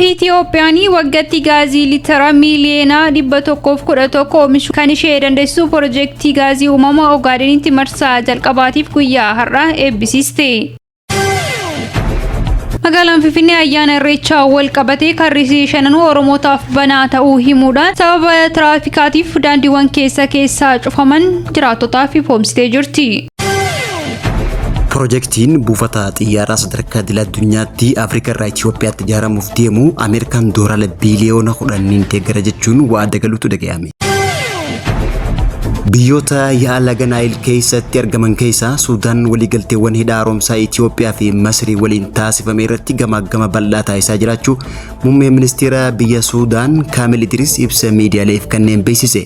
Itiyoophiyaan waggaatti gaazii liitira miiliyoona 111 oomishuu kan ishee dandeessisu pirojektii gaazii uumamaa Ogaadenitti marsaa jalqabaatiif guyyaa har'aa eebbisiiste. Magaalaan Finfinnee ayyaana irreechaa wal qabatee karrisii shananuu Oromootaaf banaa ta'uu himuudhaan sababa tiraafikaatiif daandiiwwan keessa keessaa cufaman jiraattotaaf ifoomsitee jirti. Pirojektiin buufata xiyyaaraa sadarkaa idil addunyaatti Afrikaa irraa Itoophiyaatti ijaaramuuf deemu Ameerikaan doolaara biiliyoona kudhaniin deeggara jechuun waada galuutu dhaga'ame. Biyyoota yaa'a laga Naayil keessatti argaman keessaa Suudaan waliigalteewwan hidha haaromsaa Itoophiyaa fi Masrii waliin taasifame irratti gamaaggama bal'aa taasisaa jiraachuu muummeen ministeera biyya Suudaan Kaamil Idris ibsa miidiyaaleef kanneen beeksise.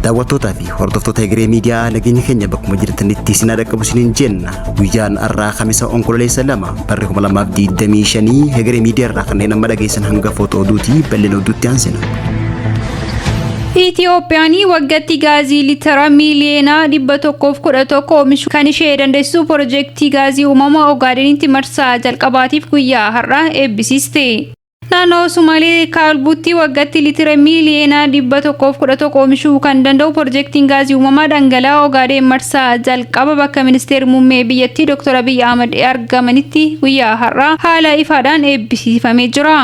Daawwattootaa fi hordoftoota Egeree Miidiyaa nageenya keenya bakkuma jirtanitti isin haa dhaqqabu isiniin jenna. Guyyaan har'aa Kamisa Onkololeessa 2 Barri 2025 hegeree miidiyaa irraa kanneen amma dhageessan hanga footoo oduuti bal'ina oduutti aansina. Itiyoophiyaan waggatti gaazii litira miiliyoona 111 oomishu kan ishee dandeessisu pirojektii gaazii uumamaa Ogaadenitti marsaa jalqabaatiif guyyaa har'aa eebbisiiste. Naannoo Sumaalee Kaalbuutti waggatti litira miiliyoona 111 oomishuu kan danda'u pirojektiin gaazii uumamaa dhangala'aa Ogaadeen marsaa jalqaba bakka ministeerri muummee biyyattii Dr. Abiy Ahmad argamanitti guyyaa har'aa haala ifaadhaan eebbisiifamee jira.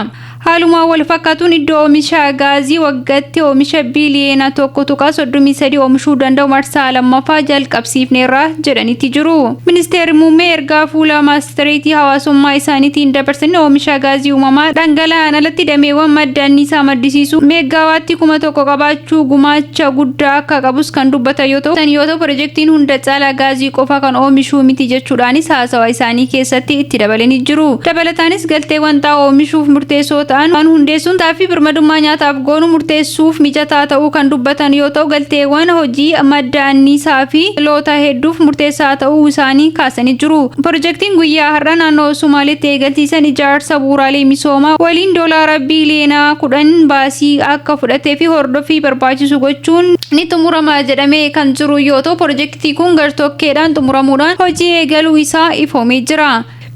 Haaluma wal fakkaatuun iddoo oomisha gaazii waggatti oomisha biiliyoona 1.33 oomishuu danda'u marsaa lammaffaa jalqabsiifneerra jedhanitti jiru. Ministeerri Muummee ergaa fuula maastareetii hawaasummaa isaaniitiin dabarsan oomisha gaazii uumamaa dhangala'aan alatti dameewwan madda anniisaa maddisiisuu meeggaawaattii kuma tokko qabaachuu gumaacha guddaa akka qabus kan dubbatan yoo ta'u, yoo ta'u pirojektiin hunda caalaa gaazii qofa kan oomishuu miti jechuudhaanis haasawa isaanii keessatti itti dabalanii jiru. Dabalataanis galteewwan xaa'oo oomishuuf murteessoo ta'an hundeessuun taaffi birmadummaa nyaataaf goonu murteessuuf mijataa ta'uu kan dubbatan yoo ta'u, galteewwan hojii madda anniisaa fi. dhaloota hedduuf murteessaa ta'uu isaanii kaasanii jiru. Pirojektiin guyyaa har'a naannoo Somaaleetti eegalsiisan ijaarsa bu'uuraalee misoomaa waliin doolaara biiliyoona 10 baasii akka fudhatee fi hordoffii barbaachisu gochuun ni xumurama jedhamee kan jiru yoo ta'u, pirojektii kun gartokkeedhaan xumuramuudhaan hojii eegaluu isaa ifoomee jira.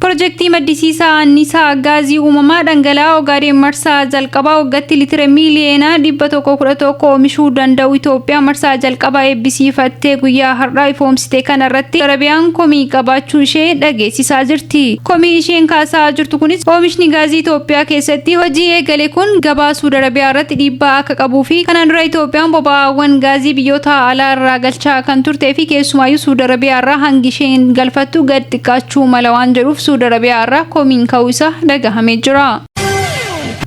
Pirojektii maddisiisa aanniisaa gaazii uumamaa dhangala'aa Ogaadeen marsaa jalqabaa waggatti litira miiliyoona 111 oomishuu danda'u Itoophiyaa marsaa jalqabaa eebbisiifattee guyyaa har'aa ifoomsite kana irratti Arabiyaan komii qabaachuu ishee dhageessisaa jirti. Komii isheen kaasaa jirtu kunis oomishni gaazii Itoophiyaa keessatti hojii eegale kun gabaa Suud Arabiyaa irratti dhiibbaa akka qabuu fi kanaan dura Itoophiyaan boba'aawwan gaazii biyyoota alaa irraa galchaa kan turtee fi keessumaayyuu Suud Arabiyaa irraa hangi isheen galfattu gad xiqqaachuu mala waan jedhuuf Suud Arabiyaa irraa komiin ka'uu isaa dhagahamee jira.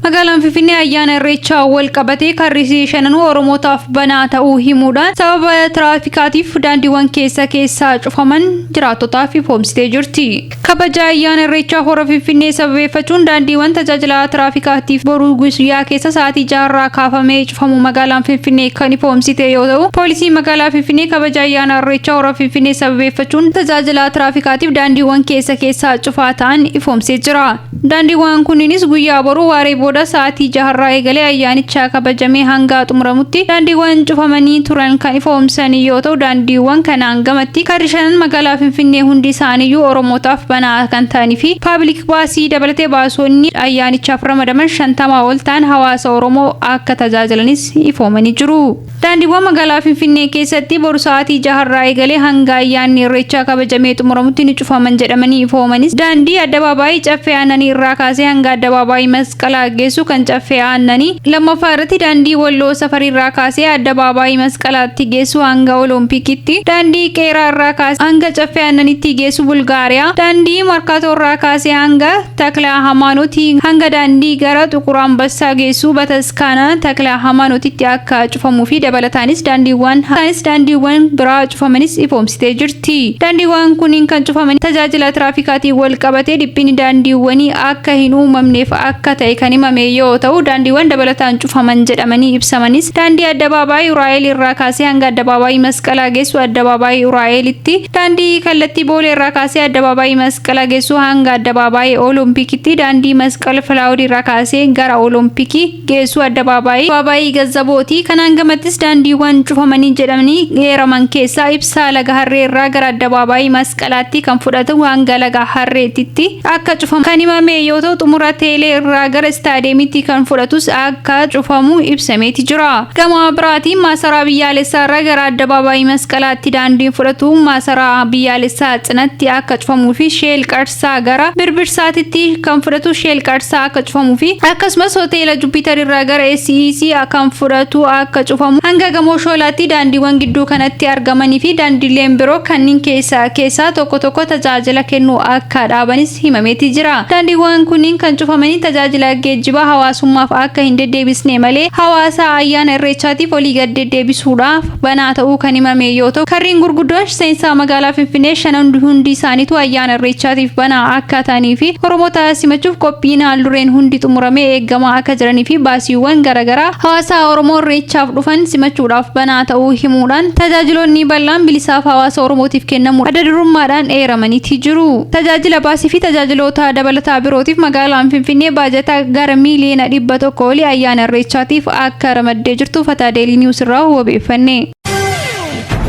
Magaalaan Finfinnee ayyaana Irreechaa wal qabatee karri isii shananuu Oromootaaf banaa ta'uu himuudhaan sababa tiraafikaatiif daandiiwwan keessa keessaa cufaman jiraattotaaf ifoomsitee jirti. Kabaja ayyaana Irreechaa Hora Finfinnee sababeeffachuun daandiiwwan tajaajila tiraafikaatiif boru guyyaa keessa sa'aatii 6 irraa kaafamee famu magaalaan Finfinnee kan ifoomsite yoo ta'u, poolisiin magaalaa Finfinnee kabaja ayyaana Irreechaa Hora Finfinnee sababeeffachuun tajaajilaa tiraafikaatiif daandiiwwan keessa keessaa cufaa ta'an ifoomsee jira. Daandiiwwan kunniinis guyyaa boruu waaree booda sa'aatii jaharraa eegalee ayyaanicha kabajamee hanga xumuramutti daandiiwwan cufamanii turan kan ifoomsan yoo ta'u, daandiiwwan kanaan gamatti karri shanan magaalaa Finfinnee hundi isaaniiyyuu Oromootaaf banaa kan ta'anii fi paabiliik baasii dabalatee baasonni ayyaanichaaf ramadaman 50 ol ta'an hawaasa Oromoo akka tajaajilanis ifoomanii jiru. Daandiiwwan magaalaa Finfinnee keessatti bor sa'aatii 6 irraa eegalee hanga ayyaanni Irreechaa kabajamee xumuramutti ni cufaman jedhamanii ifoomanis daandii Addabaabaayii Caffee Aannanii irraa kaasee hanga Addabaabaayii Masqalaa geessu kan Caffee Aannanii, 2ffaa irratti daandii Walloo Safarii irraa kaasee Addabaabaayii Masqalaatti geessu hanga Oloompikitti, daandii Qeeraa irraa kaasee hanga Caffee Aannaniitti geessu Bulgaariyaa, daandii Markaatoo irraa kaasee hanga. Takla Hamaanoti hanga daandii gara Xuqur Ambassaa geessu bataskaana Takla Hamaanotitti akka cufamuu fi dabalataanis daandiiwwan haftaanis daandiiwwan biraa cufamanis ifoomsitee jirti. Daandiiwwan kunniin kan cufaman tajaajila tiraafikaatiin wal qabatee dhiphinni daandiiwwanii akka hin uumamneef akka ta'e kan himame yoo ta'u, daandiiwwan dabalataan cufaman jedhamanii ibsamanis daandii Addabaabaayii Uraa'eel irraa kaasee hanga Addabaabaayii Masqalaa geessu Addabaabaayii Uraa'eelitti, daandii kallattii Boolee irraa kaasee Addabaabaayii Masqala geessu hanga Addabaabaayii Olompikitti daandii Masqal Filaawud irraa kaasee gara Olompikii geessu Addabaabaayii Addabaabaayii Gazzabooti. Kanaan gamattis daandiiwwan cufamanii jedhamanii eeraman keessaa ibsaa Laga Harree irraa gara Addabaabaayii Masqalaatti kan fudhatu hanga Laga Harreetitti akka cufamu kan himame yoo ta'u xumura Teelee irraa gara Istaadiyeemitti kan fudhatus akka cufamu ibsameeti jira. Gama biraatiin Maasaraa Biyyaalessaa irraa gara Addabaabaayii Masqalaatti daandiin fudhatu Maasaraa Biyyaalessaa cinatti akka cufamuu fi Sheel Qarsaa gara Birbirsaatitti kan fudhatu Sheel Qarsaa akka cufamuu fi akkasumas Hoteela Jupiter irraa gara SEC kan fudhatu akka cufamu hanga Gamoo Shoolaatti daandiiwwan gidduu kanatti argamanii fi daandiileen biroo kanniin keessaa keessaa tokko tokko tajaajila kennuu akka dhaabanis himameeti jira. Daandiiwwan kunniin kan cufamanii tajaajila geejjibaa hawaasummaaf akka hin deddeebisne malee hawaasa ayyaana Irreechaatiif olii gad deddeebisuudhaaf banaa ta'uu kan himame yoo ta'u, karreen gurguddoon seensaa magaalaa Finfinnee shanan hundi isaaniituu ayyaana Irreechaatiif banaa akka ta'anii fi Oromoota simachuuf qophiin haal-dureen hundi xumuramee eegamaa akka jiranii fi baasiiwwan garagaraa hawaasaa Oromoo Irreechaaf dhufan simachuudhaaf banaa ta'uu himuudhaan tajaajiloonni bal'aan bilisaaf hawaasa Oromootiif kennamuu adda durummaadhaan eeramaniiti jiru. Tajaajila baasii fi tajaajiloota dabalataa birootiif magaalaan Finfinnee baajata gara miiliyoona 100 olii ayyaana Irreechaatiif akka ramaddee jirtu Fataa Deelii Niwus irraa wabeeffanne.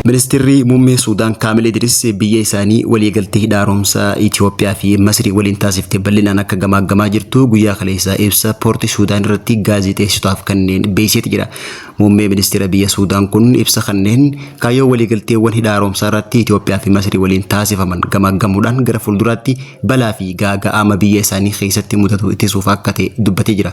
Ministirri Muummee Suudaan Kaamil Idris biyya isaanii waliigaltee hidha haaromsaa Itoophiyaa fi Masrii waliin taasifte bal'inaan akka gamaaggamaa jirtu guyyaa kaleessaa ibsa poortii Suudaan irratti gaazexeessitotaaf kanneen beeksiseeti jira. Muummee ministeera biyya Suudaan kun ibsa kanneen kaayyoo waliigalteewwan hidha haaromsaa irratti Itoophiyaa fi Masrii waliin taasifaman gamaaggamuudhaan gara fuulduraatti balaa fi gaaga'ama biyya isaanii keessatti mudatu ittisuuf akka ta'e dubbatee jira.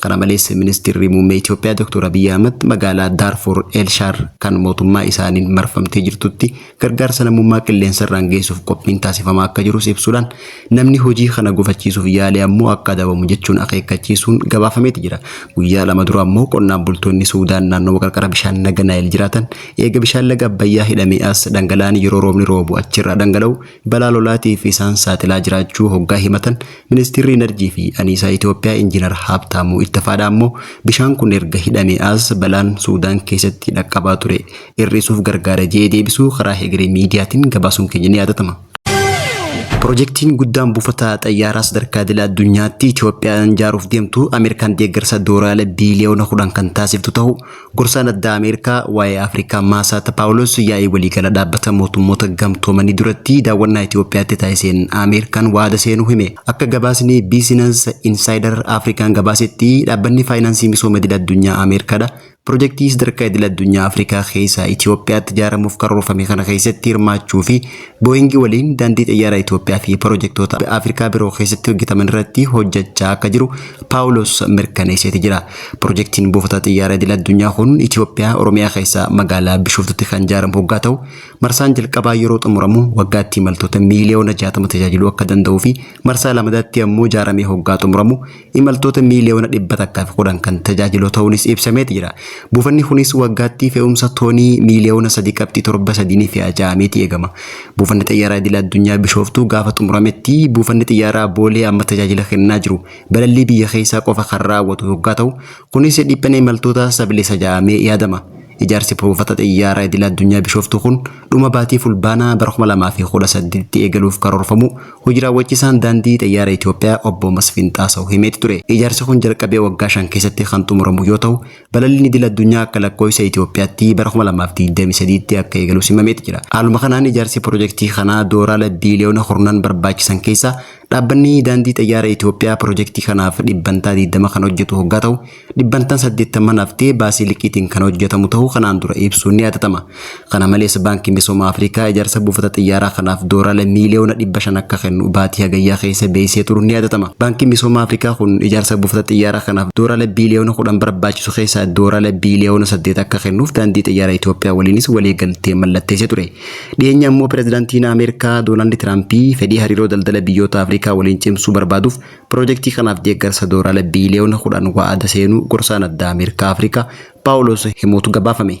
Kana malees Ministirri Muummee Itoophiyaa Dr. Abiy Ahmad magaalaa Daarfur El Shaar kan mootummaa isaaniin marfamtee jirtutti gargaarsa namummaa qilleensarraan geessuuf qophiin taasifamaa akka jirus ibsuudhaan namni hojii kana gufachiisuuf yaale ammoo akka adabamu jechuun akeekkachiisuun gabaafameeti jira. Guyyaa lama dura ammoo qonnaan bultoonni Suudaan naannoo qarqara bishaan laga Naayil jiraatan eega bishaan laga Abbayyaa hidhamee as dhangala'aan yeroo roobni roobu achirraa dhangala'u balaa lolaatiif isaan saaxilaa jiraachuu hoggaa himatan, Ministiirri Inarjii fi Aniisaa Itoophiyaa Injiinar Haabtaamuu Ittafaadhaa ammoo bishaan kun erga hidhamee as balaan Suudaan keessatti dhaqqabaa ture ir'isuuf gargaara je'ee deebisuu karaa hegeree miidiyaatiin gabaasuun keenya ni yaadatama. Pirojektiin guddaan buufata xayyaaraa sadarkaa idila addunyaatti Itoophiyaan jaaruuf deemtu Ameerikaan deeggarsa Doolaala biiliyoona 10 kan taasiftu tahuu Gorsaan addaa Ameerikaa waa'ee Afrikaa Maasaata Paawulos yaa'ii waliigala dhaabbata mootummoota gamtoomanii duratti daawwannaa Itoophiyaatti taasiseen Ameerikaan waada seenuu hime. Akka gabaasni Business Insider Afrikaan gabaasetti dhaabbanni faayinaansii misooma idil addunyaa Ameerikaadha. Pirojektii sadarkaa idil addunyaa Afrikaa keessaa Itoophiyaatti ijaaramuuf karoorfame kana keessatti hirmaachuu fi Booyingi waliin daandii xiyyaara Itoophiyaa fi pirojektoota Afrikaa biroo keessatti hojjetaman irratti hojjechaa akka jiru Paawulos mirkaneesseeti jira. Pirojektiin buufata xiyyaaraa idil addunyaa kun Itoophiyaa Oromiyaa keessaa magaalaa Bishooftutti kan ijaaramu hoggaa ta'u, marsaan jalqabaa yeroo xumuramu waggaatti imaltoota miiliyoona 60 tajaajiluu akka danda'uu fi marsaa lamadaatti ammoo ijaaramee hoggaa xumuramu imaltoota miiliyoona 110 kan tajaajilu ta'uunis ibsameeti jira. Buufanni kunis waggaatti fe'umsa toonii miiliyoona 3.73 ni fe'a ja'ameeti eegama. Buufanni xiyyaaraa idil addunyaa Bishooftuu gaafa xumurametti buufanni xiyyaaraa Boolee amma tajaajila kennaa jiru balallii biyya keessaa qofa kan raawwatu hoggaa ta'u, kunis dhiphina imaltootaa sabilisa ja'amee yaadama. Ijaarsi buufata xiyyaaraa idila addunyaa Bishooftuu kun dhuma baatii Fulbaanaa bara 2018tti eegaluuf karoorfamuu hoji raawwachisaan Daandii Xiyyaara Itoophiyaa obbo Masfin Xaasaw himeeti ture. Ijaarsi kun jalqabee waggaa shan keessatti kan xumuramu yoo ta'u, balalliin idila addunyaa akka lakkooysa Itoophiyaatti bara 2023tti akka eegalus himameeti jira. Haaluma kanaan ijaarsi pirojektii kanaa doolaala biiliyoona kurnan barbaachisan keessaa Dhaabbanni Daandii Xayyaara Itoophiyaa pirojektii kanaaf dhibbantaa 20 kan hojjetu hoggaa ta'u, dhibbantaan 80 haftee baasii liqiitiin kan hojjetamu ta'uu kanaan dura ibsuun ni yaadatama. Kana malees Baankiin Misooma Afrikaa ijaarsa buufata xiyyaaraa kanaaf Doorala miiliyoona 500 akka kennu baatii Hagayyaa keessa beeksisee turuun ni yaadatama. Baankiin Misooma Afrikaa kun ijaarsa buufata xiyyaaraa kanaaf Doorala biiliyoona 10 barbaachisu keessaa Doorala biiliyoona 8 akka kennuuf Daandii Xayyaara Itoophiyaa waliinis waliigaltee mallatteessee ture. Dhiyeenya ammoo Pirezidantiin Ameerikaa Doonaald Tiraampi fedhii hariiroo daldala biyyoota Afrikaa waliin cimsuu barbaaduuf pirojektii kanaaf deeggarsa Doolaala biiliyoona 10 wa'ada seenuu gorsaan addaa Ameerikaa Afrikaa Paawuloos himuutu gabaafame.